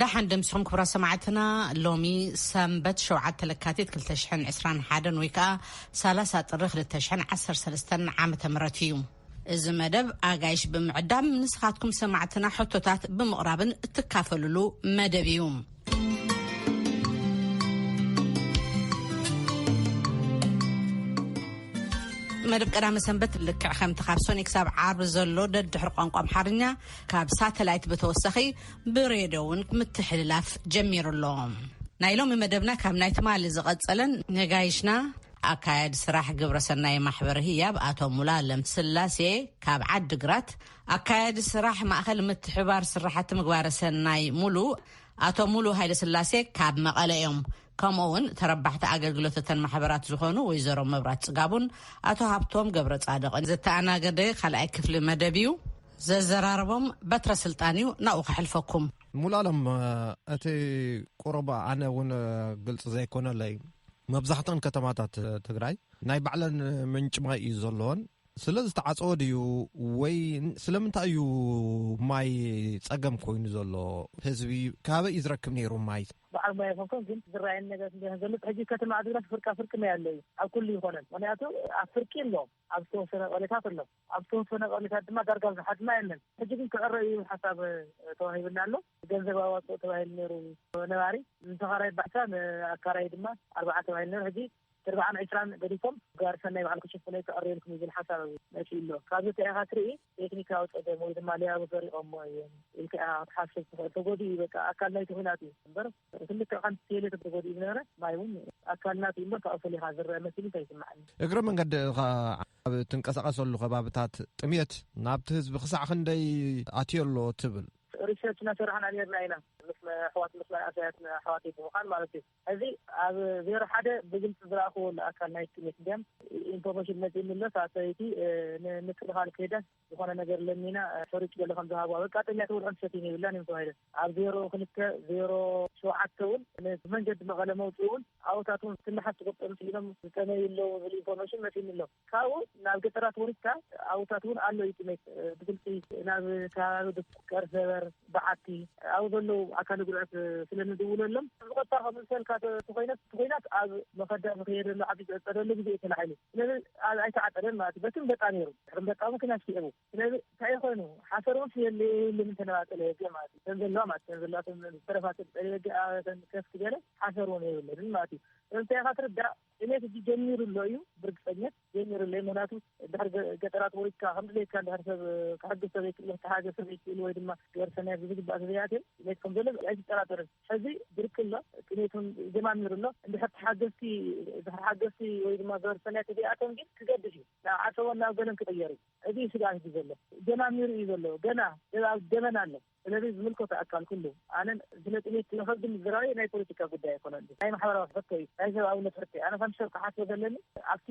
ደሓን ደምስኹም ክብራ ሰማዕትና ሎሚ ሰንበት ሸውዓተ ለካቲት 221 ወይ ከዓ ሳላሳ ጥሪ 213 ዓመተ ምህረት እዩ እዚ መደብ ኣጋይሽ ብምዕዳም ንስኻትኩም ሰማዕትና ሕቶታት ብምቕራብን እትካፈልሉ መደብ እዩ መደብ ቀዳመ ሰንበት ልክዕ ከምቲ ካብ ሶኒ ክሳብ ዓርቢ ዘሎ ደድሕሪ ቋንቋ ኣምሓርኛ ካብ ሳተላይት ብተወሳኺ ብሬድዮ እውን ምትሕልላፍ ጀሚሩ ኣሎ ናይ ሎሚ መደብና ካብ ናይ ትማሊ ዝቐጸለን ነጋይሽና ኣካያዲ ስራሕ ግብረ ሰናይ ማሕበር ህያብ ኣቶ ሙላ ለምስላሴ ካብ ዓዲ ግራት ኣካያዲ ስራሕ ማእኸል ምትሕባር ስራሕቲ ምግባረ ሰናይ ሙሉ ኣቶ ሙሉ ሃይለ ስላሴ ካብ መቐለ እዮም ከምኡ እውን ተረባሕቲ ኣገልግሎት እተን ማሕበራት ዝኾኑ ወይዘሮ መብራት ፅጋቡን ኣቶ ሃብቶም ገብረ ፃደቕን ዝተኣናገደ ካልኣይ ክፍሊ መደብ እዩ ዘዘራርቦም በትረ ስልጣን እዩ ናብኡ ከሕልፈኩም። ሙሉኣለም እቲ ቁሩብ ኣነ እውን ግልፂ ዘይኮነለይ መብዛሕተን ከተማታት ትግራይ ናይ ባዕለን ምንጭ ማይ እዩ ዘለዎን ስለ ዝተዓፀወ ድዩ ወይ ስለምንታይ እዩ ማይ ፀገም ኮይኑ ዘሎ ህዝቢ ካበይ እዩ ዝረክብ ነይሩ ማይ በዓል ማይ ይኮንኩም ግን ዝረኣየኒ ነገር ዘሎ ሕጂ ከተማ ዓዲግራት ፍርቃ ፍርቂ ማይ ኣሎ እዩ ኣብ ኩሉ ይኮነን ምክንያቱ ኣብ ፍርቂ ኣሎ ኣብ ዝተወሰነ ቀሌታት ኣሎ ኣብቲ መፈናቐሊታት ድማ ዳርጋ ዝሓድማ የለን። ሕጂ ግን ክዕረ እዩ ሓሳብ ተዋሂብኒ ኣሎ። ገንዘብ ኣዋጽኦ ተባሂሉ ነይሩ ነባሪ፣ ንተኻራይ ባሕታ ንኣካራዪ ድማ ኣርብዓ ተባሂሉ ነይሩ። ሕጂ ብርብዓን ዕስራን ገዲፎም ጋሪ ሰናይ ባዕሉ ክሽፍኖ እዩ ክዕረየልኩም እዩ ዝብል ሓሳብ መጺኡ ኣሎ። ካብዚ እንታይ ኢኻ ትርኢ ቴክኒካዊ ጸገም ወይ ድማ ሌያቡ ሰሪቖሞ እዮም ኢልካ ኢኻ ክትሓስብ ትኽእል። ተጎዲኡ እዩ በቃ ኣካል ናይቲ ኲናት እዩ እምበር ክልተ ሓንቲ ቴሌ ተተጎዲኡ ዝነበረ ማይ እውን ኣካልና ሲ እምበር ካብኡ ፈሊኻ ዝረአ መሲሉ ኣይስምዓኒ እግረ መንገዲ ኸዓ ኣብ ትንቀሳቐሰሉ ከባብታት ጥምየት ናብቲ ህዝቢ ክሳዕ ክንደይ ኣትዮ ኣሎ ትብል ሪሰርች እናሰራሕና ነርና ኢና ምስ ኣሕዋት ምስ መንእሰያት ኣሕዋት ብምዃን ማለት እዩ እዚ ኣብ ዜሮ ሓደ ብግልፂ ዝረእክዎ ኣካል ናይ ጥምየት እንዲያም ኢንፎርሜሽን መፂእኒ ኣሎ ሳብ ሰበይቲ ንምክልኻል ከይደ ዝኾነ ነገር ለሚና ሕሩጭ ገለ ከም ዝሃብዋ በቃ ጠሚያቶ ውልዕን ትሰትይን የብላን እዮም ተባሂለን ኣብ ዜሮ ክልተ ዜሮ ሸውዓተ እውን ንመንገዲ መቐለ መውፅኢ እውን ኣብኡታት እውን ትልሓስ ትቁጠብ ስኢኖም ዝጠመዩ ኣለዉ ዝብል ኢንፎርሜሽን መፂኒ ኣሎ ካብኡ ናብ ገጠራት ወሪድካ ኣብኡታት እውን ኣሎ እዩ ጥሜት ብግልፂ ናብ ከባቢ ድኩ ቀርሰበር በዓቲ ኣብኡ ዘለዉ ኣካል ጉድኣት ስለንድውለሎም ዝቆጣ ከምዝሰልካ ተኮይነት ተኮይናት ኣብ መኸዳ ዝኸየደሉ ዓዲ ዝዕፀደሉ ግዜ እዩ ተላዒሉ ስለዚ ኣይተዓፀደን ማለት እዩ በትን በጣ ነይሩ ከም በቃ እውን ክላሽ ስዒቡ ስለዚ እንታይ ኮይኑ ሓሰር እውን ስለዘየለ ምእንቲ ናብ ኣጸደ በጊዕ ማለት እዩ ከም ዘለዋ ማለት ከም ዘለዋ ከም ዝተረፋ ጸደ በጊዕ ኣበተን ከፍ ዝበለ ሓሰር እውን የብለንን ማለት እዩ ስለምንታይ ኢኻ ትርዳእ ጥሜት እጂ ጀሚሩ ኣሎ እዩ ብርግጸኘት ጀሚሩ ኣሎ እዩ ምክንያቱ ድሕሪ ገጠራት ወሪድካ ከም ድሌትካ ድሕሪ ሰብ ክሕግዝ ሰበይክእሉ ክተሓገዝ ሰበይክእሉ ወይ ድማ ገበር ሰናይ ብዝግባእ ተዘይኣትዮ ጥሜት ከም ዘሎ ኣይትጠራጠርን ሕዚ ብርቂ ኣሎ ጥሜት እውን ጀማሚሩ ኣሎ እንድሕር ተሓገዝቲ ድሕሪ ሓገዝቲ ወይ ድማ ገበር ሰናይ ተዘይኣትዮም ግን ክገድድ እዩ ናብ ዓሰቦን ናብ ገለን ክቕየር እዩ ዕብይ ስግኣት እቲ ዘሎ። ጀማሚሩ እዩ ዘሎ ገና ገና ኣብ ገበን ኣሎ። ስለዚ ዝምልከቶ ኣካል ኩሉ ኣነ ስለ ጥሜት ስለ ከብዲ ምዝራበይ ናይ ፖለቲካ ጉዳይ ኣይኮነን ናይ ማሕበራዊ ሕቶ እዩ ናይ ሰብኣውነት ሕቶ እዩ። ኣነ ከም ሰብ ክሓስቦ ዘለኒ ኣብቲ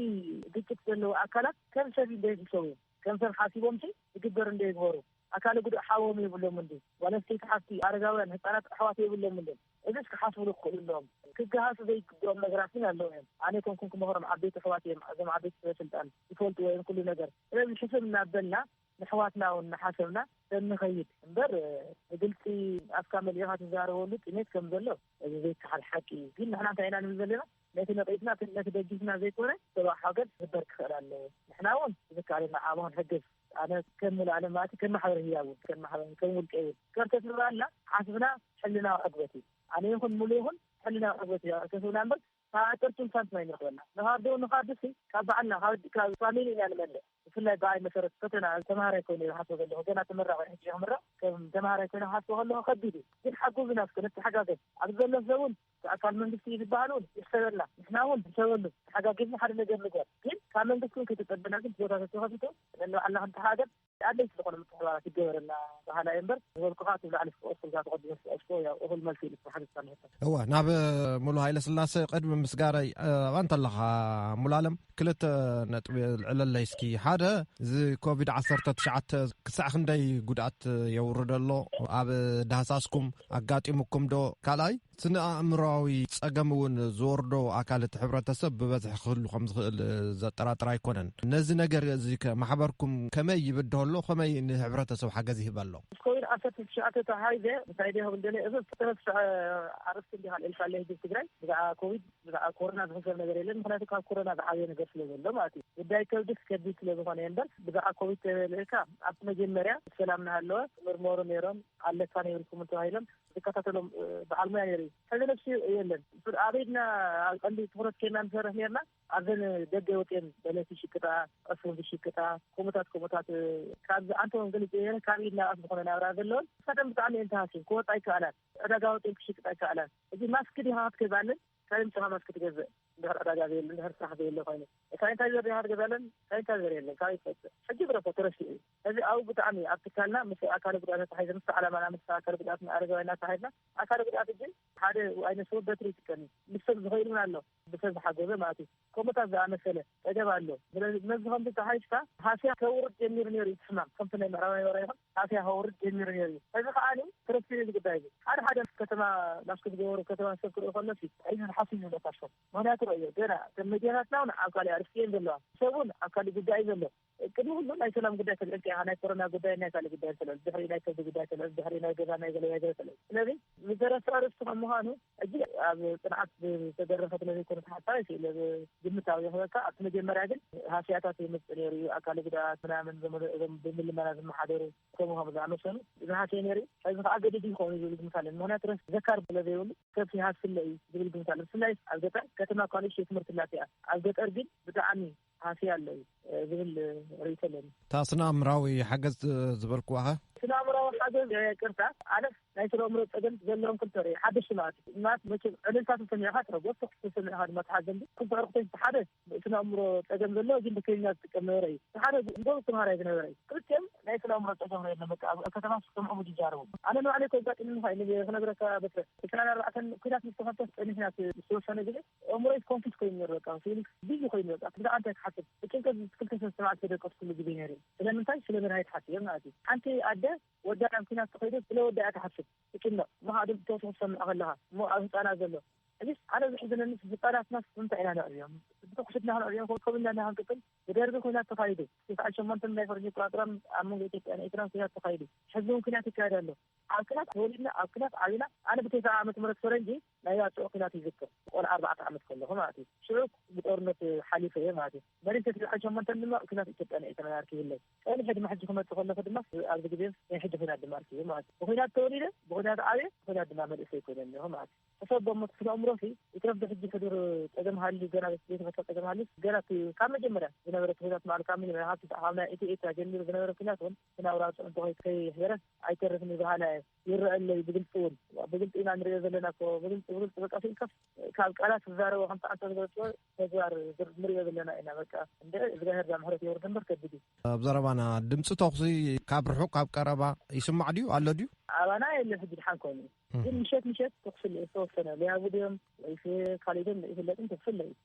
ግጭት ዘለዉ ኣካላት ከም ሰብ እንዶ ይሕሰቡ እዮም ከም ሰብ ሓሲቦምሲ ዝግበር እንዶ ይግበሩ ኣካለ ጉዱእ ሓዎም የብሎምን ድዩ ጓል ኣንስተይቲ ሓፍቲ ኣረጋውያን ህጻናት ኣሕዋት የብሎምን ድዮም እዚስ ክሓስብሉ ክኽእሉ ኣለዎም። ክገሃሱ ዘይግብኦም ነገራት ግን ኣለዉ እዮም። ኣነ ከምኩም ክመኽሮም ዓበይቲ ኣሕዋት እዮም ኣዞም ዓበይቲ ሰበ ስልጣን ይፈልጥዎ እዮም ኩሉ ነገር ስለዚ ሕስብ እናበልና ነሕዋትና ውን እናሓሰብና ተንኸይድ እምበር ብግልጺ ኣፍካ መሊእኻ ትዛረበሉ ጥሜት ከም ዘሎ እዚ ዘይከሓድ ሓቂ እዩ ግን ንሕና እንታይ ኢና ንብል ዘለና ነቲ ነቒፍና ነቲ ደጊፍና ዘይኮነ ሰብኣዊ ሓገዝ ክግበር ክኽእል ኣለዎ ንሕና ውን ብዝከኣለና ዓቕሚ ክንሕግዝ ኣነ ከም ምልኣለ ማለት ከም ማሕበረ ህያብ እውን ከም ማሕበረ ከም ውልቀ እውን ከርተት ንባልና ሓስብና ሕልናዊ ዕግበት እዩ ኣነ ይኹን ሙሉ ይኹን ሕልናዊ ዕግበት እዩ ከስብና እምበር ካብ ኣጠርቱ እንሳን ስማይ ንረኽበና ንኻዶ ንኻዶ ሲ ካብ ባዕልና ካብ ፋሚሊ ኢና ንመልእ ብፍላይ ብኣይ መሰረት ፈተና ተምሃራይ ኮይኑ ይሓስቦ ዘለኹ ገና ተመራቂ ሕጂ ክምረቕ ከም ተምሃራይ ኮይኑ ክሓስቦ ከለኹ ከቢድ እዩ ግን ሓጉዝና እስከ ንተሓጋገዝ ኣብዚ ዘሎ ሰብ እውን ኣካል መንግስቲ እዩ ዝበሃል እውን ይሕሰበልና ንሕና እውን ንሕሰበሉ ተሓጋጊዝና ሓደ ነገር ንግበር ግን ካብ መንግስቲ እውን ከይተፀበና ግን ቦታታት ተኸፊቱ ነንባዕልና ከም ተሓገዝ ኣድለይቲ ዝኾኑ ምትሕብባራት ይገበረልና በሃላይ እየ እምበር ዝበልኩ ከዓ እቲ ላዕሊ ዝተቐስኩ እዛ ተቐዲመ ዝተቐስኩ ያው እኹል መልሲ ኢሉ ዝተሓተትካ ንሕቶ እወ ናብ ሙሉ ሃይለ ስላሰ ቅድሚ ምስጋረይ ኣባ እንተለኻ ሙሉ ኣለም ክልተ ነጥቢ ኣልዕለለይ እስኪ ሓደ እዚ ኮቪድ ዓሰርተ ትሽዓተ ክሳዕ ክንደይ ጉድኣት የውርደ ኣሎ ኣብ ዳህሳስኩም ኣጋጢሙኩም ዶ ካልኣይ ስነ ኣእምሮዊ ጸገም እውን ዝወርዶ ኣካል እቲ ሕብረተሰብ ብበዝሒ ክህሉ ከም ዝኽእል ዘጠራጥር ኣይኮነን ነዚ ነገር እዚ ማሕበርኩም ከመይ ይብድሆ ኣሎ ከመይ ንሕብረተሰብ ሓገዝ ይህበ ኣሎ ኮቪድ ዓሰርተ ትሽዓተ ተሓይዘ እንታይ ደ ክብል ደለ እዚ ዝተመስፍዐ ኣርስቲ እንዲ ካልእልካ ለህዝብ ትግራይ ብዛዕባ ኮቪድ ብዛዕባ ኮሮና ዝሕሰብ ነገር የለን ምክንያቱ ካብ ኮሮና ዝዓበየ ነገር ስለ ዘሎ ማለት እዩ ጉዳይ ከብድስ ከቢድ ስለ ዝኮነ እየ እምበር ብዛዕባ ኮቪድ ተልእካ ኣብቲ መጀመርያ ሰላም ናሃለወ ምርመሩ ነይሮም ኣለካ ነይርኩም ተባሂሎም ዝከታተሎም በዓል ሙያ ነይሩ ሕዚ ነብሲ የለን ኣበይድና ኣብ ቀንዲ ትኩረት ኬና ንሰርሕ ነርና ኣብዘን ደገ ወፅን በለቲ ሽቅጣ ዕፉን ዝሽቅጣ ከምኡታት ከምኡታት ካብ ኣንተውን ግልፅ ካብ ኢድና ኣፍ ዝኮነ ናብራ ዘለዎን ንሳተን ብጣዕሚ እየን ተሃስየን ክወፃ ይከኣላን ዕዳጋ ወጺእን ክሽቅጥ ኣይከኣላን። እዚ ማስክ ዲኻ ክትገዝኣለን ካበይ ኣምጺኻ ማስክ ትገዝእ እንድሕር ዕዳጋ ዘየለ እንድሕር ስራሕ ዘየለ ኮይኑ ሳኒታይዘር ዲኻ ክትገዝኣለን ሳኒታይዘር የለን ካበይ ትገዝእ ሕጂ ግደፎ ተረሲዑ እዩ እዚ ኣብኡ ብጣዕሚ ኣብ ትካልና ምስ ኣካለ ጉድኣት ኣተሓሒዘ ምስ ዓላማና ምስ ኣካለ ጉድኣት ኣረጋውያን ኣተሓሒዝና ኣካለ ጉድኣት እጂ ሓደ ኣይነስወ በትሪ ይጥቀም እዩ ንሶም ዝኸኢሉን ኣሎ ብተዝሓገዘ ማለት'ዩ። ከምኡታት ዝኣመሰለ ጸገም ኣሎ። ስለዚ ነዚ ከምዚ ጠሓይሽካ ሃስያ ከውርድ ጀሚሩ ነይሩ እዩ እቲ ሕማም። ከምቲ ናይ ምዕራባውያን ወረ ይኹን ሃስያ ከውርድ ጀሚሩ ነይሩ እዩ። ሕዚ ከኣ ክርስቲን እዩ እዚ ጉዳይ እዚ። ሓደ ሓደ ከተማ ማስክ ዝገበሩ ከተማ ሰብ ክርእዩ ከሎሲ ሕዚ ዝሓሱ ይመስለካ ሽኮር። ምኽንያቱ ርእዮ ገና እተን መዲያታትና ውን ኣብ ካልእ ኣርእስቲ እየን ዘለዋ። ሰብ ውን ኣብ ካልእ ጉዳይ እዩ ዘሎ። ቅድሚ ኩሉ ናይ ሰላም ጉዳይ ስለ እልካ ኢኻ ናይ ኮሮና ጉዳይን ናይ ካልእ ጉዳይን ስለ ድሕሪኡ ናይ ከብዲ ጉዳይ ስለ ድሕሪኡ ናይ ገዛ ናይ ገለ ወዘተ ስለ ስለዚ ብዘረፍቲ ኣርእስቲ ከም ምዃኑ ሕጂ ኣብ ጽንዓት ዝተደረኸ ስለ ዘይኮነ ተሓሳቢ ስለ ግምታዊ ይኽበካ ኣብቲ መጀመርያ ግን ሃስያታት ይምጽእ ነይሩ እዩ ኣካል ጉዳት ምናምን እዞም ብምልመና ዝመሓደሩ ከምኡ ከም ዝኣመሰሉ ዝሃስየ ነይሩ እዩ ሕዚ ከዓ ገዲድ ይኸውን እዩ ዝብል ግምት ኣለኒ ምክንያቱ ረስ ዘካር ስለ ዘይብሉ ሰብ ይሃስለ እዩ ዝብል ግምት ኣሎ ብፍላይ ኣብ ገጠር ከተማ ኳልሽ የትምህርቲ ላትያ ኣብ ገጠር ግን ብጣዕሚ ሃስያ ኣለዉ ዝብል ርእቶ ኣለኒ እታ ስነኣምራዊ ሓገዝ ዝበልክዋኸ ስነኣምራዊ ሓገዝ ቅርታ ኣነስ ናይ ስነኣምሮ ፀገም ዘለዎም ክልተ ርኢ ሓደ ሽማት ሽማት መ ዕልልታ ተሰሚዕካ ትረጎብ ተኩስ ተሰሚዕካ ድማ ትሓዘን ክልተ ዕርክቶች ሓደ ስነኣምሮ ፀገም ዘለዎ ግን ብከኛ ዝጥቀም ነበረ እዩ ሓደ ጎብ ተምሃራይ ዝነበረ እዩ ክልቲኦም ናይ ስነኣምሮ ፀገም ርለ በቃ ኣብ ከተማ ስከምዑ ዝጃረቡ ኣነ ንባዕለይ ከጋጢምኒ ኸ ክነግረካ በትረ ዕስራን ኣርባዕተን ኩናት ምስተኸፍተ ፀኒሕናት ዝተወሰነ ግዜ ኣእምሮይ ኮንፊዝ ኮይኑኒ በቃ ፊሊክስ ቢዚ ኮይኑ በቃ ብዛዕባ እንታይ ክሓስብ ብጭንቀት ዝትክልተ ሰስተ መዓልቲ ተደቀስኩሉ ግዜ ነይሩ ስለምንታይ ስለ መድሃኒት ሓሲበ ማለት እዩ ሓንቲ ኣደ ወዳ ናብ ኩናት ተኸይዱ ስለ ወዳ እያ ትሓስብ ትጭነቕ እሞኸኣ ድምጺ ተውስኹ ትሰምዕ ከለኻ እሞ ኣብ ህጻናት ዘሎ ሕጂስ ኣነ ዝሕዝነኒስ ህጻናትናስ ብምንታይ ኢና ነዕብዮም ብተኩሲ ድና ክንዕብዮም ከምኡ ኢልና ድና ክንቅጽል ብደርጊ ኩናት ተኻይዱ ትስዓን ሸሞንተን ናይ ፈረንጂ ኣቆጻጽራ ኣብ መንጎ ኢትዮጵያን ኤርትራን ኩናት ተኻይዱ ሕጂ እውን ኩናት ይካየድ ኣሎ ኣብ ኲናት ተወሊድና፣ ኣብ ኲናት ዓቢና። ኣነ ብተስዓ ዓመተ ምህረት ፈረንጂ ናይ ባጽዕ ኲናት ይዝክር፣ ቆልዓ ኣርባዕተ ዓመት ከለኹ ማለት እዩ። ሽዑ ብጦርነት ሓሊፈ እየ ማለት እዩ። መሪንተ ስድራይ ሸሞንተን ድማ ኣብ ኲናት ኢትዮጵያ ናይ ኤርትራን ኣርኪቡለይ። ጸኒሐ ድማ ሕጂ ክመጽእ ከለኹ ድማ ኣብዚ ግዜ ናይ ሕጂ ኲናት ድማ ኣርኪቡ ማለት እዩ። ብኲናት ተወሊደ፣ ብኲናት ዓብየ፣ ብኲናት ድማ መንእሰይ ኮይነ እኒሀኹ ማለት እዩ። ሕሰቦ እሞ እቲ ስነ-ኣእምሮኺ ይትረፍ ብሕጂ ሕዱር ጸገም ሃልዩ ገና ዘይተፈትሐ ጸገም ሃልዩስ ገና እቲ ካብ መጀመርያ ዝነበረ እቲ ኲናት ባዕሉ ካብ መጀመርያ ካብ ትስዓ ካብ ናይ ኢትዮ-ኤርትራ ጀሚሩ ዝነበረ ኲናት እውን ግን ኣውራጃ እንተኾይት ከይሕበረት ኣይተርፍን ይበሃላ እየ ይረአለይ ብግልፂ እውን ብግልፂ ኢና ንሪኦ ዘለና ኮ ብግልፂ ብግልፂ በቃ ስኢልካስ ካብ ቃላት ዝዛረቦ ከምቲ ዓንተ ዝገለፅዎ ተግባር ንሪኦ ዘለና ኢና በቃ እንደ እግዚኣብሔር ዛምሕረት የውርድ እምበር ከቢድ እዩ ኣብ ዘረባና ድምፂ ተኹሲ ካብ ርሑቅ ካብ ቀረባ ይስማዕ ድዩ ኣሎ ድዩ ኣባና የለ ሕጂ ድሓን ኮይኑ ግን ምሸት ምሸት ተኽሲ ዝተወሰነ ሊያቡ ድዮም ወይስ ካልእ ድዮም ይፍለጥን ተኽሲ ኣለዩ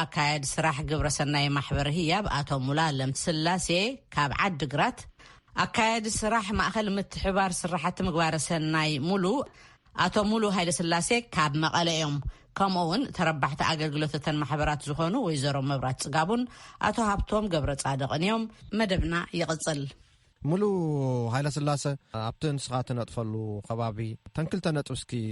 ኣካያዲ ስራሕ ግብረ ሰናይ ማሕበር ህያብ ኣቶ ሙሉኣለም ስላሴ ካብ ዓዲ ግራት፣ ኣካያዲ ስራሕ ማእኸል ምትሕብባር ስራሕቲ ምግባረ ሰናይ ሙሉ ኣቶ ሙሉ ሃይለስላሴ ካብ መቐለ እዮም። ከምኡ እውን ተረባሕቲ ኣገልግሎት እተን ማሕበራት ዝኾኑ ወይዘሮ መብራት ፅጋቡን ኣቶ ሃብቶም ገብረፃድቕን እዮም። መደብና ይቕፅል። ሙሉ ሃይለስላሰ ኣብቲ ንስኻ ትነጥፈሉ ከባቢ ተን ክልተ ነጥብ እስኪ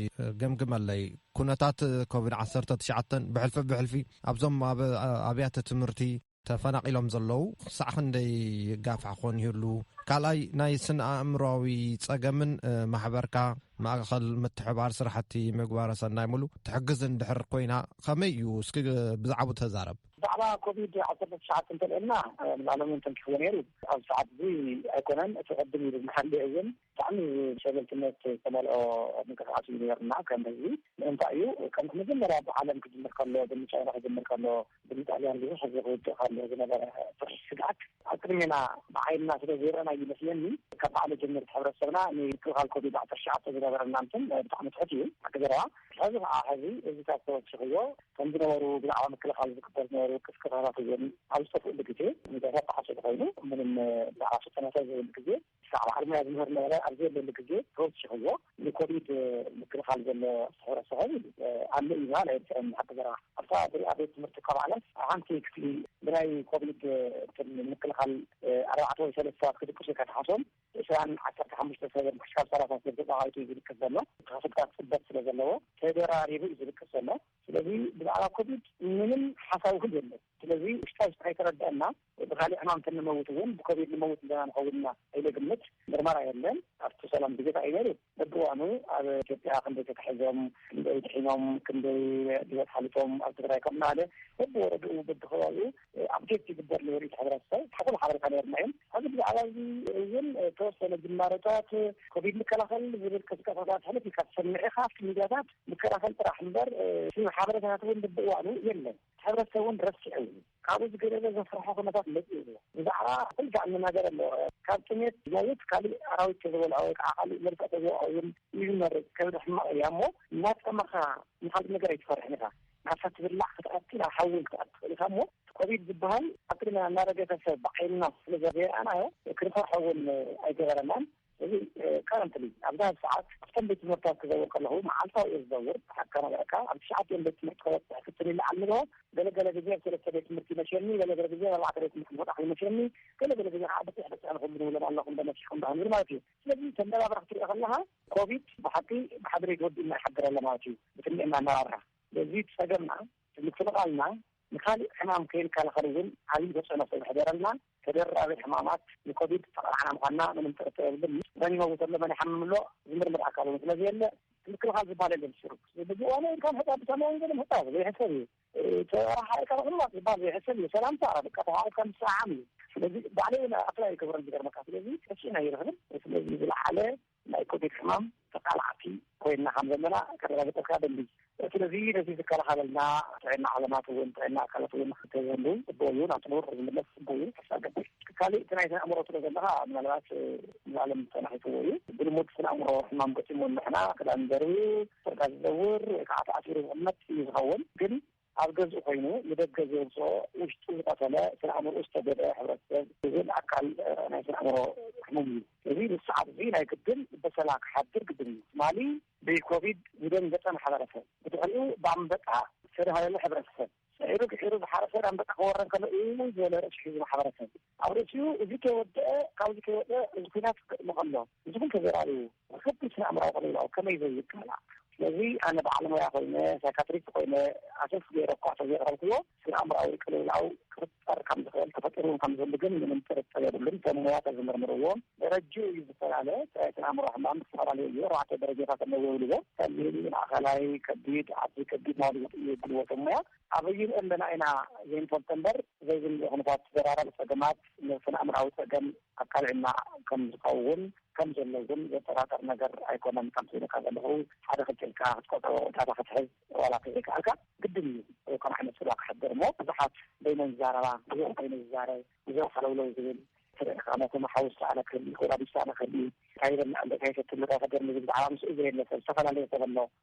ገምግመለይ ኩነታት ኮቪድ ዓተ ትሽዓ ብሕልፊ ብሕልፊ ኣብዞም ኣብ ኣብያተ ትምህርቲ ተፈናቒሎም ዘለዉ ክሳዕ ክንደይ ይጋፋሕ ክኾን ይህሉ ካልኣይ ናይ ስነ ኣእምሮዊ ፀገምን ማሕበርካ ማእኸል ምትሕባር ስራሕቲ ምግባረ ሰናይ ሙሉ ትሕግዝ ንድሕር ኮይና ከመይ እዩ እስኪ ብዛዕባ ተዛረብ ብዛዕባ ኮቪድ ዓሰርተ ትሽዓተ እንተልዒልና ንባዕሎምውን ተንኪፍዎ ነይሩ ኣብዚ ሰዓት እዚ ኣይኮነን እቲ ቅድም ኢሉ ዝሓለየ እውን ብጣዕሚ ሸለልትነት ዝተመልኦ ምንቅስቃስ እዩ ነይሩና ከም ህዝቢ ምእንታይ እዩ ከም መጀመርያ ብዓለም ክጅምር ከሎ ብንቻይና ክጅምር ከሎ ብንጣልያን ብዙሕ ህዝቢ ክውድእ ከሎ ዝነበረ ፍርሒ ስግኣት ኣብ ቅድሜና ብዓይንና ስለ ዘይረእናዩ ይመስለኒ ካብ ባዕሉ ጀመርቲ ሕብረተሰብና ንምክልኻል ኮቪድ ዓሰርተ ትሽዓተ ዝነበረና እንትን ብጣዕሚ ትሑት እዩ ሓቂ ዘረባ ሕዚ ከዓ ሕዚ እዚታት ተወሲኽዎ ከም ዝነበሩ ብዛዕባ ምክልኻል ዝግበር ዝነበሩ ቅስቀሳታት እውን ኣብ ዝጠፍኡሉ ግዜ ሚድያታት ተዓሶ ተኮይኑ ምንም ብዛዕባ ስልጠናታት ዘይብሉ ግዜ ክሳዕ በዓል ሙያ ዝምህር ነበረ ኣብ ዘየለሉ ግዜ ተወሲኽዎ ንኮቪድ ምክልኻል ዘሎ ስሕረ ሰኸብ ኢሉ ኣሎ እዩ በሃል ኣይርትዐን ሓቂ ዘረባ ኣብታ ብሪኣ ቤት ትምህርቲ ከባዕላት ሓንቲ ክፍሊ ብናይ ኮቪድ ምክልኻል ኣርባዕተ ወይ ሰለስተ ሰባት ክድቅሱ ኢልካ ትሓሶም ዕስራን ዓሰርተ ሓሙሽተ ሰብ ክሻብ ሰላሳ ሰብ ተጣቓዒቱ እዩ ዝድቅስ ዘሎ። ተኸፍልታት ፅበት ስለ ዘለዎ ተደራሪቡ እዩ ዝድቅስ ዘሎ። ስለዚ ብዛዕባ ኮቪድ ምንም ሓሳዊ ክል የለን። ስለዚ ውሽጣ ውሽጢ ከይተረደኣና ብካሊእ ሕማም ተንመውት እውን ብኮቪድ ንመውት ኣለና ንኸውን ኢና ኢለ ግምት ምርመራ የለን ኣብቲ ሰላም ግዜ ታይ እዩ ነይሩ? በብእዋኑ ኣብ ኢትዮጵያ ክንደይ ተታሒዞም፣ ክንደይ ድሒኖም፣ ክንደይ ብሂወት ሓሊፎም፣ ኣብ ትግራይ ከምኡ እናበለ በብወረድኡ በብከባቢኡ ኣፕዴት ይግበር ነበሩ እዩ እቲ ሕብረተሰብ። ሓቁን ሓበሬታ ነይሩና እዩ። ሕዚ ብዛዕባ እዚ እውን ተወሰነ ጅማሮታት ኮቪድ ምከላኸል ዝብል ቅስቀሳታት ሕልፍ ኢልካ ትሰምዕ ኢኻ ኣብቲ ሚድያታት። ምከላኸል ጥራሕ እምበር እቲ ሓበሬታታት እውን በብእዋኑ የለን። እቲ ሕብረተሰብ እውን ረሲዑ እዩ። ካብኡ ዝገደደ ዘፍርሖ ኩነታት መጺኡ ኣሎ። ብዛዕባ ኩልጋዕ እንናገር ኣሎ። ካብ ጥሜት ዝመውት ካሊእ ኣራዊት ተዝበልዖ ወይ ከዓ ካሊእ መርዛእ ተዝወቕዖ እውን እዩ ዝመርጽ። ከብዲ ሕማቕ እያ እሞ እናጠመኻ ንካሊእ ነገር ኣይትፈርሕን ኢኻ። ዓሳ ትብላዕ ክትኣቱ ናብ ሓዊ እውን ክትኣቱ ትኽእል ኢኻ እሞ እቲ ኮቪድ ዝበሃል ኣብ ቅድሜና እናረገፈ ሰብ ብዓይንና ስለዘይረኣናዮ ክንፈርሖ እውን ኣይገበረናን። እዚ currently ኣብዛ ሰዓት ኣብተን ቤት ትምህርትታት ክዘውር ከለኹ መዓልታዊ እየ ዝዘውር ሓቅካ ነገረካ ኣብ ትሽዓቲኦም ቤት ትምህርቲ ከበፅሕ ፍትን ኢለ ኣለዎ ገለ ገለ ግዜ ኣብ ሰለስተ ቤት ትምህርቲ ይመሸኒ ገለ ገለ ግዜ ኣብ ኣርባዕተ ቤት ትምህርቲ ክወጣ ይመሸኒ ገለ ገለ ግዜ ከዓ ብፅሕ ብፅሕ ንክብሉ ንብሎም ኣለኹ እንዶ መሲሕኩም እንዶ ክንብል ማለት እዩ ስለዚ ተመራብራ ክትሪኦ ከለካ ኮቪድ ብሓቂ ብሓደ ቤት ወዲ እና ይሓድር ኣሎ ማለት እዩ ብትንዕ እናመራብራ ስለዚ ፀገምና ምክልኻልና ንካሊእ ሕማም ከይንከላኸል እውን ዓብዪ ተፅዕኖ ስለዝሕደረልና ተደራቢ ሕማማት ንኮቪድ ዝተቓላዕና ምዃንና ምንም ጥርጥር የብሉን። መን ይመውት ኣሎ፣ መን ይሓምም ኣሎ ዝምርምር ኣካል እውን ስለ ዘየለ ምክልኻል ዝበሃል የለን። ሽሩክ ብእዋኑ ኢልካ ምሕፃብ ብሰማይ ወንጌል ምሕፃብ ዘይሕሰብ እዩ። ተራሓሒቕካ ምቕማጥ ዝበሃል ዘይሕሰብ እዩ። ሰላምታ በቃ ተሓቛቒፍካ ምስዕዓም እዩ። ስለዚ ባዕለይ እውን ኣፕላይ ይገብሮ ዝገርመካ። ስለዚ ሕቺን ኣይረኽብን። ስለዚ ዝለዓለ ናይ ኮቪድ ሕማም ተቃላዕቲ ኮይንና ከም ዘለና ከረጋግፀልካ እደሊ። ስለዚ ነዚ ዝከላኸለልና ጥዕና ዓለማት እውን ጥዕና ኣካላት እውን ክትህሉ ፅቡቅ እዩ። ናብ ንቡር ዝምለስ ፅቡቅ እዩ ተስፋ እገብር። ካሊእ እቲ ናይ ስነኣእምሮ ትብሎ ዘለኻ ምናልባት ንዓለም ተናኺፍዎ እዩ። ብልሙድ ስነኣእምሮ ሕማም ገጢሙ ንሕና ክዳን ዘርብዩ፣ ጨርቃ ዝዘውር ወይ ከዓ ተኣሲሩ ዝቅመጥ እዩ ዝኸውን ግን ኣብ ገዝኡ ኮይኑ ንደገ ዘውፅኦ ውሽጡ ዝቐተለ ስነ ኣእምርኡ ዝተጎድኣ ሕብረተሰብ ዝብል ኣካል ናይ ስነ ኣእምሮ ሕሙም እዩ። እዚ ንሰዓት እዚ ናይ ግድን በሰላ ክሓድር ግድን እዩ። ትማሊ ብኮቪድ ዝደንገፀ ማሕበረሰብ ብድሕሪኡ ብኣንበጣ ዝተዳህለለ ሕብረተሰብ፣ ስዒሩ ድሒሩ ዝሓረሰ ኣንበጣ ክወረን ከሎ እውይ ዝበለ ርእሱ ሒዙ ማሕበረሰብ፣ ኣውሪሱ እዚ ከይወደኣ ካብዚ ከይወጸ እዚ ኩናት ክጥቅሞ ከሎ እዚ ኩሉ ተዘራሪቡ ብከቢድ ስነኣእምራዊ ቅልውላው ከመይ ዘይቃላዕ ስለዚ ኣነ በዓል ሞያ ኮይነ ሳይካትሪስት ኮይነ ኣሰስ ገይረ እኳ ተዘየቅረብክዎ ስነኣእምራዊ ቅልውላው ክፍጠር ከም ዝክእል ተፈጢሩ ውን ከም ዝህሉ ግን ምንም ጥርጥር የብሉን ሰብ ሞያ ተዝምርምርዎ ደረጅኡ እዩ ዝፈላለ ጥራይ ስነኣእምሮ ሕማም ዝተፈላለዩ እዩ ኣርባዕተ ደረጃታት ኣለዎ ይብልዎ ቀሊል ማእከላይ ከቢድ ኣዝዩ ከቢድ ናብሉ ዝቅይር ጉልበተ ሞያ ኣበይ ንሪኦ ኣለና ኢና ዘይንፈልጦ እምበር ዘይብሉ ኩነታት ተደራራቢ ፀገማት ንስነ ኣእምሮኣዊ ፀገም ኣብ ካልዕና ከምዝኸውን ከምዘሎ እውን ዘጠራጥር ነገር ኣይኮነን። ከምቲ ኢለካ ዘለኹ ሓደ ክልተ ኢልካ ክትቆፅሮ ወይ ዳታ ክትሕዝ ዋላ እንተዘይከኣልካ ግድን እዩ ከምኡ ዓይነት ፅልዋ ከሕድር እሞ ብዙሓት በይነን ዝዛረባ ብዙሕ በይኑ ዝዛረብ ብዙሕ ሃለውለው ዝብል ትርኢኻ ምኽንያቱ መሓዊ ዝሰኣነ ክህሉ ይኽእል ኣድጊ ዝሰኣነ ክህሉ እዩ እንታይ ይበልዕ ኣሎ እንታይ ይሰቲ ኣሎ እንታይ ይሕደር ኣሎ ዝብል ብዛዕባ ምስኡ ዘየለ ሰብ ዝተፈላለየ ሰብ ኣሎ።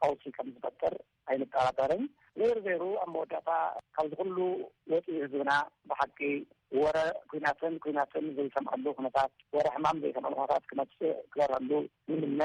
ቀውሲ ከም ዝፈጥር ኣይንጠራጠርን። ዘይሩ ዘይሩ ኣብ መወዳእታ ካብዚ ኩሉ ወፂኡ ህዝብና ብሓቂ ወረ ኩናትን ኩናትን ዘይሰምዐሉ ኩነታት፣ ወረ ሕማም ዘይሰምዐሉ ኩነታት ክመፅእ ክበርሀሉ ንምነ።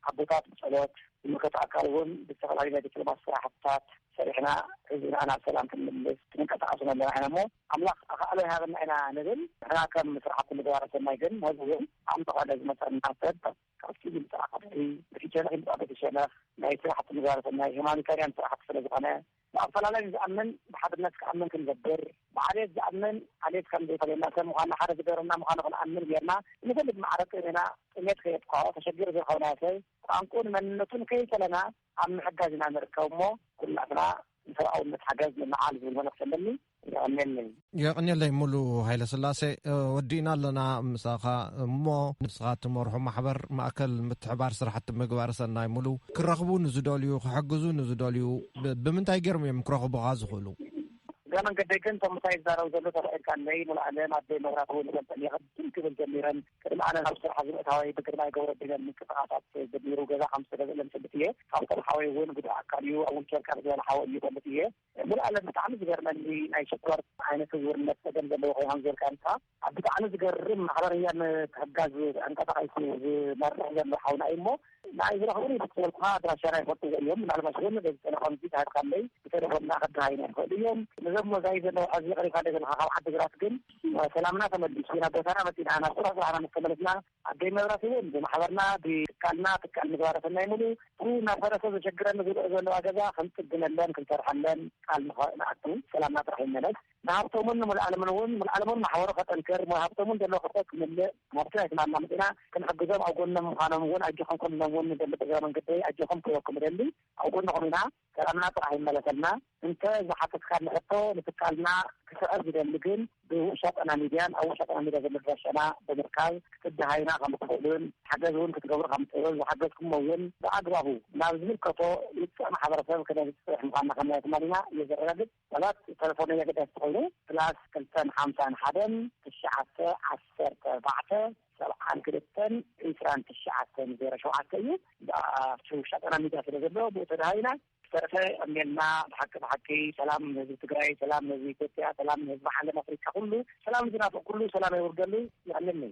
ኣቦታት ብፀሎት፣ ዝምልከቶ ኣካል እውን ብዝተፈላለዩ ናይ ዲፕሎማሲ ስራሕትታት ሰሪሕና ህዝብና ናብ ሰላም ክንምልስ ክንንቀሳቐስ እውን ኣለና ኢና እሞ ኣምላኽ ኣኻእሎ ይሃበና ኢና ንብል። ንሕና ከም ስራሕቲ ምግባረ ሰናይ ግን ሞዝ እውን ኣምልኾ ነዝመፀና ሰብ ካብቲ ምምፃእ ቐፅሪ እቲ ሸነኽ ይምፃእ በቲ ሸነኽ ናይ ስራሕቲ መዛርትን ናይ ሁማኒታርያን ስራሕቲ ስለዝኾነ ብኣፈላላይ ንዝኣምን ብሓድነት ክኣምን ክንገብር ብዓልየት ዝኣምን ዓልየት ከምዘይፈልየና ሰብ ምዃንና ሓደ ዝገብረና ምዃኑ ክንኣምን ገይርና ብንፈልግ ማዕረ ጥእንና ጥምየት ከየጥቅዖ ተሸጊሩ ዝረኸብናዮ ሰብ ቋንቁኡን መንነቱን ከይፈለና ኣብ ምሕጋዝ ኢና ንርከብ እሞ ኩላትና ንሰብኣውነት ሓገዝ ንልዓል ዝብል መልእኽቲ ኣለኒ። የቐንየለይ። የቕንየለይ ሙሉ ሃይለስላሴ። ወዲእና ኣለና ምሳኻ እሞ ንስኻ እትመርሖ ማሕበር ማእከል ምትሕባር ስራሕቲ ምግባረ ሰናይ ሙሉ ክረኽቡ ንዝደልዩ ክሕግዙ ንዝደልዩ ብምንታይ ገይሮም እዮም ክረኽቡኻ ዝኽእሉ? እግረ መንገደይ ግን እቶም ምሳይ ዝዛረቡ ዘለዉ ተባኢልካ ኣለይ ሙሉኣለም፣ ኣደይ መብራህቱ፣ ንፈልጠን የቐድም ክብል ጀሚረን ቅድሚ ኣነ ናብ ስራሕ ዝምእታወይ ብግርማይ ገብረዲነን ምንቅስቃሳት ጀሚሩ ገዛ ከም ዝተገዝእለን እፈልጥ እየ። ካብቶም ሓወይ እውን ጉዱእ ኣካል እዩ ኣብ ዊልቸር ካብ ዝበለ ሓወይ እዩ እፈልጥ እየ። ሙሉኣለም ብጣዕሚ ዝገርመኒ ናይ ሽኮር ዓይነት እውርነት ፀገም ዘለዎ ኮይኑ ከም ዝበልካዮ ንስኻ ኣብ ብጣዕሚ ዝገርም ማሕበረ ህያብ ምትሕግጋዝ ተንቀሳቂሱ ዝመርሕ ዘሎ ሓውና እዩ እሞ ንዓይ ዝረኽቡኒ ብተወልኩኻ ኣድራሻና ይፈልጥዎ እዮም፣ ምናልባሽ እውን በዚ ቴለፎን እዚ ተሃብካለይ ብቴለፎን ድማ ክደሃዩና ይኽእሉ እዮም፣ ነዞም መዛዩ ዘለዉ ዓዚ የቕሪብካ ደገለኻ ካብ ዓዲግራት ግን ሰላምና ተመሊሱ ናብ ቦታና መፂእና ናብ ስራሕ ስራሕና ምስ ተመለስና ኣደይ መብራህቲ እውን ብማሕበርና ብትካልና ትካል ምግባረ ሰናይ ሙሉ እቲ እናፈረሰ ዘሸግረኒ ዝርኦ ዘለዋ ገዛ ክንፅግነለን ክንሰርሐለን ቃል ንኣቱ ሰላምና ጥራሕ ይመለስ። ንሃብቶምን ንምልኣሎምን እውን ምልኣሎምን ማሕበሩ ከጠንክር ሞያ ሃብቶምን ዘለዎ ክፍተት ክምልእ ናብቲ ናይቲ ማማ መጺእና ክንሕግዞም ኣብ ጎኖም ምዃኖም እውን ኣጆኹም ኩኑ ኢሎም እውን ንደሊ ብእግረ መንገደይ ኣጆኹም ክብለኩም እደሊ ኣብ ጎንኹም ኢና ሰላምና ጥራሕ ይመለሰልና እንተ ዝሓተትካኒ ሕቶ ንትካልና ክስዕር ዝደሊ ግን ብውሻ ጠና ሚድያን ኣብ ውሻ ጠና ሚድያ ዘሎ ኣድራሻና ብምርካብ ክትደሃዩና ከም እትኽእሉን ሓገዝ እውን ክትገብሩ ከም እትኽእሉን ዝሓገዝኩሞ እውን ብኣግባቡ ናብ ዝምልከቶ ውጽዕ ማሕበረሰብ ክነብጽሕ ምዃንና ከም ናይ ትማሊና የዘረጋግጽ ሰባት ተለፎነይ ኣገዳሲ ተኾይኑ ፕላስ ክልተን ሓምሳን ሓደን ትሽዓተ ዓሰርተ ኣርባዕተ ሰብዓን ክልተን ዕስራን ትሽዓተን ዜሮ ሸውዓተ እዩ ብኣ ሽውሻ ጣና ሚድያ ስለ ዘሎ ብኡ ተደሃቢና ዝተረፈ የቀንየልና ብሓቂ ብሓቂ ሰላም ንህዝቢ ትግራይ ሰላም ንህዝቢ ኢትዮጵያ ሰላም ንህዝቢ ዓለም ኣፍሪካ ኩሉ ሰላም ንዝናፍቅ ኩሉ ሰላም የውርደሉ የቀንየለይ።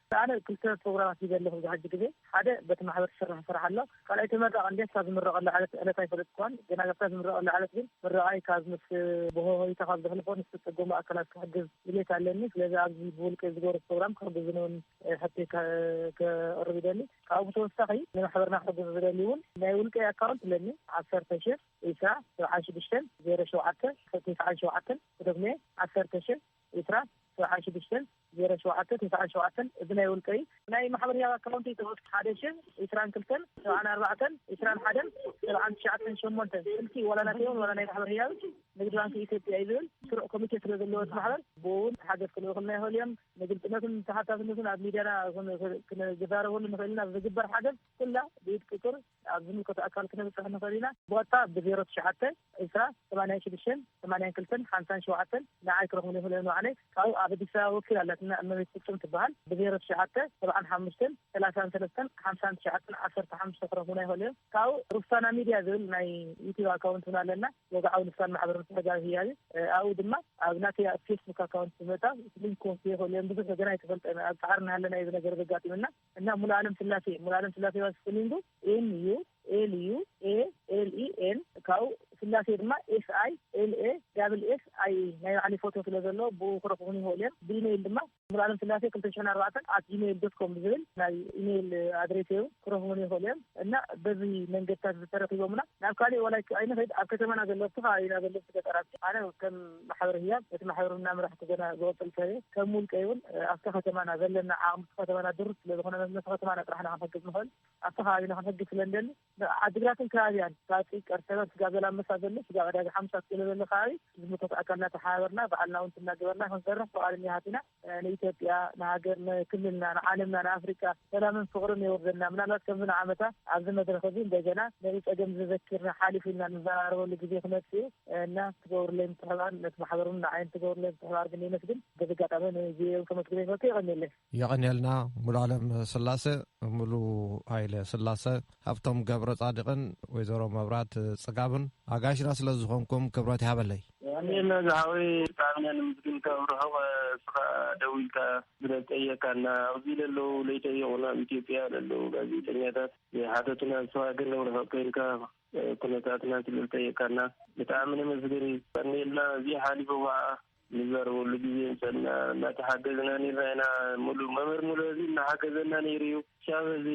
ኣነ ክልተ ፕሮግራማት ሒዘ ኣለኹ ኣብዚ ሕጂ ግዜ። ሓደ በቲ ማሕበር ዝስራሕ ስራሕ ኣሎ። ካልኣይ ተመራቂ እንድየ ክሳብ ዝምረቐላ ዕለት ዕለታ ኣይፈለጥኩዋን። ግና ኣብታ ዝምረቐላ ዕለት ግን ምርቓይ ካብ ምስ ብሆሆይታ ካብ ዘሕልፎ ንዝተጸገሙ ኣካላት ክሕግዝ ድሌት ኣለኒ። ስለዚ ኣብዚ ብውልቀይ ዝገብሮ ፕሮግራም ክሕግዙኒ እውን ሕቶይ ከቕርብ ይደሊ። ካብኡ ብተወሳኺ ንማሕበርና ክሕግዙ ዝደልዩ እውን ናይ ውልቀይ ኣካውንት ኣለኒ ዓሰርተ ሽሕ ኢስራ ሰብዓን ሽዱሽተን ዜሮ ሸውዓተ ክልተ ሰዓን ሸውዓተን እደግሞ እየ ዓሰርተ ሽሕ ዕስራ፣ ሰብዓን ሽዱሽተን፣ ዜሮ ሸውዓተ፣ ተስዓን ሸውዓተን፣ እዚ ናይ ውልቀይ እዩ። ናይ ማሕበር ህያብ ኣካውንተይ ተወስኪ፣ ሓደ ሽሕ፣ ዕስራን ክልተን፣ ሰብዓን ኣርባዕተን፣ ዕስራን ሓደን፣ ሰብዓን ትሽዓተን፣ ሸሞንተ፣ ስልኪ ዋላ ናተይ እውን ዋላ ናይ ማሕበር ህያብ ንግዲ ባንኪ ኢትዮጵያ እዩ ዝብል። ስሩዕ ኮሚቴ ስለ ዘለዎ እቲ ማሕበር ብኡ እውን ሓገዝ ክልእኹልና ይኸእሉ እዮም። ንግልፅነቱን ተሓታትነቱን ኣብ ሚድያና ክነዘራርበሉ ንኸእል ኢና። ብዝግበር ሓገዝ። ኩላ ብኢድ ቁጽር ኣብ ዝምልከቶ ኣካል ክነብጽሕ ንኽእል ኢና። ብቐጥታ ብ ዜሮ ትሽዓተ፣ ዕስራ፣ ሰማንያን ሽዱሽተን፣ ሰማንያን ክልተን፣ ሓምሳን ሸውዓተን ንዓይ ክረኽቡኒ ይኽእሉ እዮም ንባዕለይ። ካብኡ ኣብ ኣዲስ ኣበባ ወኪል ኣላትና እመቤት ፍጹም ትበሃል ብ ዜሮ ትሽዓተ፣ ሰብዓን ሓሙሽተን፣ ሰላሳን ሰለስተን፣ ሓምሳን ትሽዓተን፣ ዓሰርተ ሓሙሽተ ክረኽቡና ይኽእሉ እዮም። ካብኡ ሩፍሳና ሚድያ ዝብል ናይ ዩቱብ ኣካውንት እውን ኣለና። ወግዓዊ ልሳን ማሕበር ምትሕግጋዝ ህያብ እዩ። ኣብኡ ድማ ኣብ ናተይ ኣብ ፌስቡክ ኣካውንት ብምእታው ሊንክ ክወስዱ ይኽእሉ እዮም። ብዙሕ ግና ኣይተፈልጠን ኣብ ጻዕሪ እናሃለና እዩ እዚ ነገር ዘጋጢምና። እና ሙሉኣለም ስላሴ ሙሉኣለም ስላሴ ባይ ስፔሊንግ ዩ ኤም ዩ ኤል ዩ ኤ ኤል ኢ ኤም ካብኡ ስላሴ ድማ ኤስ ኣይ ኤል ኤ ዳብል ኤስ ኣይ ኢ ናይ ባዕለይ ፎቶ ስለ ዘሎ ብኡ ክረኽቡኒ ይኽእሉ እዮም ብኢመይል ድማ ሙሉኣለም ስላሴ ክልተ ሽሕን ኣርባዕተን ኣት ጂመይል ዶት ኮም ብዝብል ናይ ኢመይል ኣድሬሰይ ውን ክረኽቡኒ ይኽእሉ እዮም እና በዚ መንገድታት እዚ ተረኺቦምና ናብ ካሊእ ዋላ ኣይንኺድ ኣብ ከተማና ዘለዉ ኣብቲ ከባቢና ዘለዉ ገጠራት ኣነ ከም ማሕበር ህያብ እቲ ማሕበር እናምራሕኩ ገና ዝቕፅል ሰብ እየ። ከም ውልቀይ እውን ኣብቲ ከተማና ዘለና ዓቕሚ እቲ ከተማና ድሩት ስለ ዝኾነ ነቲ ከተማና ጥራሕና ክንሕግዝ ንኽእል ኣብቲ ከባቢና ክንሕግዝ ስለ ንደሊ ዓዲግራትን ከባቢያን ሳፂ፣ ቀርሰበን፣ ስጋብ ዘላመሳ ዘሎ ስጋብ ዕዳጋ ሓሙሳ ክሎ ዘሎ ከባቢ ዝምልከቶ ኣካል እናተሓባበርና ባዕልና እውን ትናገበርና ክንሰርሕ ፍቓደኛታት ኢና። ንኢትዮጵያ ንሃገር ንክልልና ንዓለምና ንኣፍሪቃ ሰላምን ፍቅርን የውርደልና ምናልባት ከምዚ ንዓመታ ኣብዚ መድረክ እዚ እንደገና ነዚ ጸገም ዘዘኪርና ሓሊፉ ኢልና ንዘራረበሉ ግዜ ክመጽእ እዩ እና ትገብሩለይ ምትሕብባር ነቲ ማሕበር ውን ንዓይ ትገብሩለይ ምትሕብባር ግን የመስግን በዚ ኣጋጣሚ ንቪኦኤ ከመስግን ይፈቱ የቀኒየለይ። የቀኒየልና ሙሉኣለም ስላሰ ሙሉ ሃይለ ስላሰ ሃብቶም ገብረጻድቅን ወይዘሮ መብራት ጽጋብን ኣጋይሽና ስለ ዝኮንኩም ክብረት ይሃበለይ። የቀንየልና ዝሓወይ ብጣዕሚ ነመስግንካ ኣብ ርሑቅ እስኻ ደዊልካ ስለ ዝጠየካና ኣብዚ ለለዉ ለይጠየቁና ኣብ ኢትዮጵያ ለለዉ ጋዜጠኛታት ዘይሓተቱና እስኻ ግን ኣብ ርሑቅ ከይንካ ኩነታትና ስለ ዝጠየካና ብጣዕሚ ነመስግን የቀንየልና እዚ ሓሊፉ ካዓ ንዛረበሉ ግዜ ምሰና እናተሓገዝና ነይርና ኢና ሙሉ መምህር ሙሉ እዚ እናሓገዘና ነይሩ እዩ። ክሳብ ሕዚ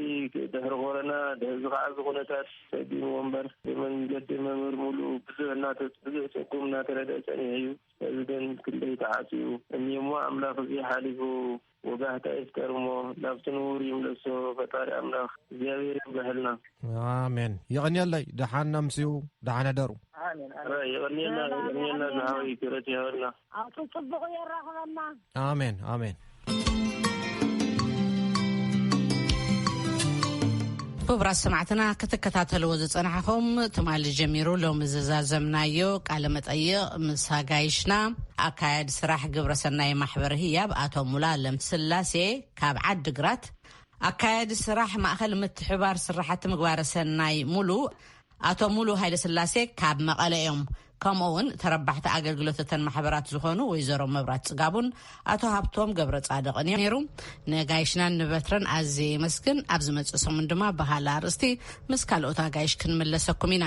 ድሕሪ ኮረና ድሕዚ ከዓ እዚ ኩነታት ፀጊምዎ እምበር ብመንገዲ መምህር ሙሉ ብዙሕ እናተፅ ብዙሕ ፀጉም እናተረድኣ ፀኒሑ እዩ። ሕዚ ግን ክንደይ ተዓፅዩ እኒኦ እሞ ኣምላክ እዙይ ሓሊፉ ወጋሕታ ይፍጠር እሞ ናብቲ ንቡር ይምለሶ ፈጣሪ ኣምላክ እግዚኣብሔር የንብሐልና። ኣሜን የቐንየለይ ደሓን ኣምስዩ ደሓን ሕደሩ። ኣሜን ኣሜን ይቕንየልና ይቕንየልና ዝሓወይ ክብረት ይሃበልና። ኣብቲ ፅቡቅ የራክበና ኣሜን ኣሜን። ክቡራት ሰማዕትና ክትከታተልዎ ዝፀናሕኹም ትማሊ ጀሚሩ ሎሚ ዝዛዘምናዮ ቃለ መጠይቕ ምስ ኣጋይሽና ኣካያዲ ስራሕ ግብረሰናይ ማሕበር ህያብ ኣቶ ሙላ ለም ስላሴ ካብ ዓዲ ግራት ኣካያዲ ስራሕ ማእኸል ምትሕባር ስራሕቲ ምግባረ ሰናይ ሙሉ ኣቶ ሙሉ ሃይለስላሴ ካብ መቐለ እዮም። ከምኡ ውን ተረባሕቲ ኣገልግሎት እተን ማሕበራት ዝኾኑ ወይዘሮ መብራት ፅጋቡን ኣቶ ሃብቶም ገብረ ፃድቕን ነይሩ። ነጋይሽናን ንበትረን ኣዝየ የመስግን። ኣብ ዝመፅእ ሰሙን ድማ ብካልእ ኣርእስቲ ምስ ካልኦት ኣጋይሽ ክንምለሰኩም ኢና።